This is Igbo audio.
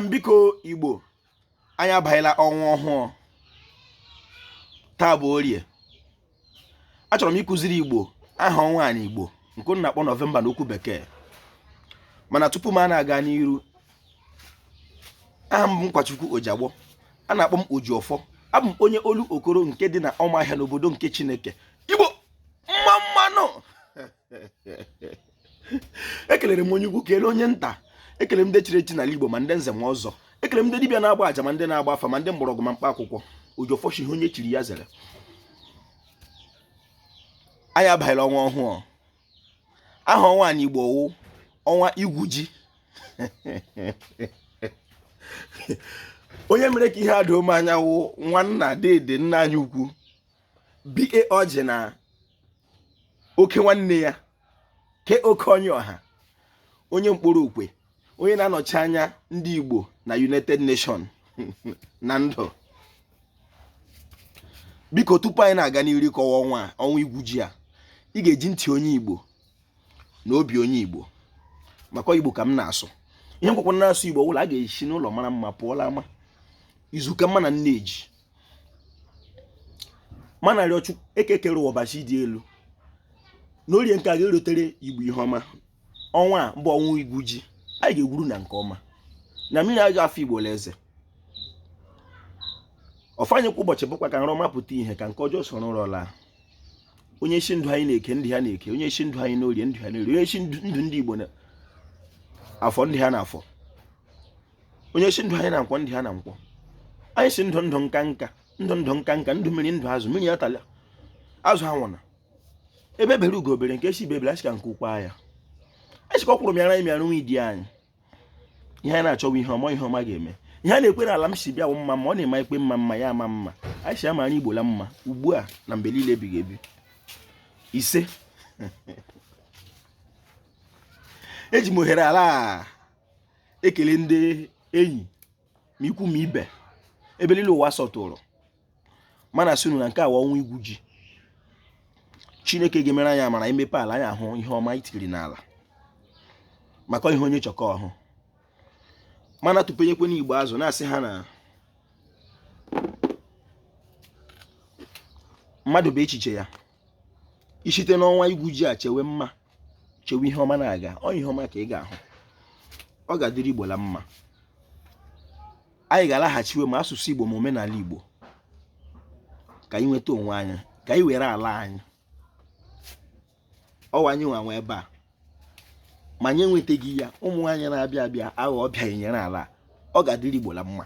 biko igbo anyị abaghịla ọnwa ọhụụ taa bụ orie achọrọ m ịkụziri igbo aha ọnwa anyị igbo nke a na-akpọ nọvemba na okwu bekee mana tupu m a na-aga n'iru aha m bụ nkwachukwu ojiagbọ a na-akpọ m ojiọfọ abụ m onye olokoro nke dị na ọmaahịa n'obodo nke chineke igbo mma mma nụ ekelere m onye ukwu kelee onye nta ekele m ndị chiri echi n'ala Igbo ma ndị nze ma ọzọ ekele m ndị dibịa na-agba aja ma ndị na-agba afa ma ndị mgbọrọgwụ ma mkpa akwụkwọ ojiọfọ shị ihe onye chiri ya zere anyị abaghịla ọnwa ọhụụ aha ọnwa anyị Igbo wụ ọnwa igwu ji onye mere ka ihe a doo m anya wụ nwanna dede nna anyị ukwu BA Ọjị na oke nwanne ya KOK Onyiọha onye Nkporo Okwe onye na-anọchi anya ndị Igbo na United Nation na ndụ biko tupu anyị na-aga n'iru kọwa ọnwa ọnwa igwu ji a ị ga-eji ntị onye Igbo na obi onye Igbo maka Igbo ka m na-asụ ihe nkwakwa na-asụ Igbo wụ la a ga-esi n'ụlọ mara mma pụọ la ama izu ka mma na nne ji m na-arịọ chukwu eke kere ụwa ọbasị dị elu n'orie nke a ga-erotere igbo ihe ọma ọnwa a bụ ọnwa igwu ji anyị ga-egwuru na nke ọma na mmiri aga afa igbo la eze ọ fanyekwa ụbọchị bụkwa ka nrọ ọma pụta ihe ka nke ọjọọ soro nrọ laa onye sị ndụ anyị na eke ndụ ha na eke onye sị ndụ anyị n'orie ndụ ha n'orie onye sị ndụ ndị igbo na afọ ndụ ha na afọ onye sị ndụ anyị na nkwọ ndụ ha na nkwọ anyị sị ndụ ndụ nka nka ndụ ndụ nka nka ndụ mmiri ndụ azụ mmiri atala azụ anwụna egbe bere ugo bere nke sị ibe ebela asị ka nku kwaa ya asị ka ọkwụrụ mịara anyị mịara nwie di anyị ihe anyị na-achọ wụ ihe ọma ihe ọma ga-eme ihe a na-ekwere ala m si bịa bụ mma ma ọ na-eme ikpe mma mma ya ama mma anyị sị ya mara anyị igbo la mma ugbu a na mgbe niile ebighị ebi isee eji m ohere a la ekele ndị enyi ma ikwu ma ibe ebe niile ụwa sọtụrụ m na-asị unu na nke a wụ ọnwa igwu ji chineke ga-emere anyị amara i mepe ala anyị ahụ ihe ọma i tiri n'ala maka ihe onye chọ ka ọ hụ mana tụpenyekwe ndị igbo azụ na-asị ha na mmadụ bụ echiche ya i shite n'ọnwa igwu ji a chewe mma chewe ihe ọma na-aga ọ ihe ọma ka ị ga-ahụ ọ ga-adịrị igbo la mma anyị ga-alaghachiwe ma asụsụ igbo ma omenala igbo ka anyị nweta onwe anyị ka anyị were ala anyị ọ wụ anyị nwa nwe ebe a ma anyị enwetaghị ya ụmụ anyị na-abịa abịa aghọ ọbịa e nyere ala ọ ga-adịrị igbo la mma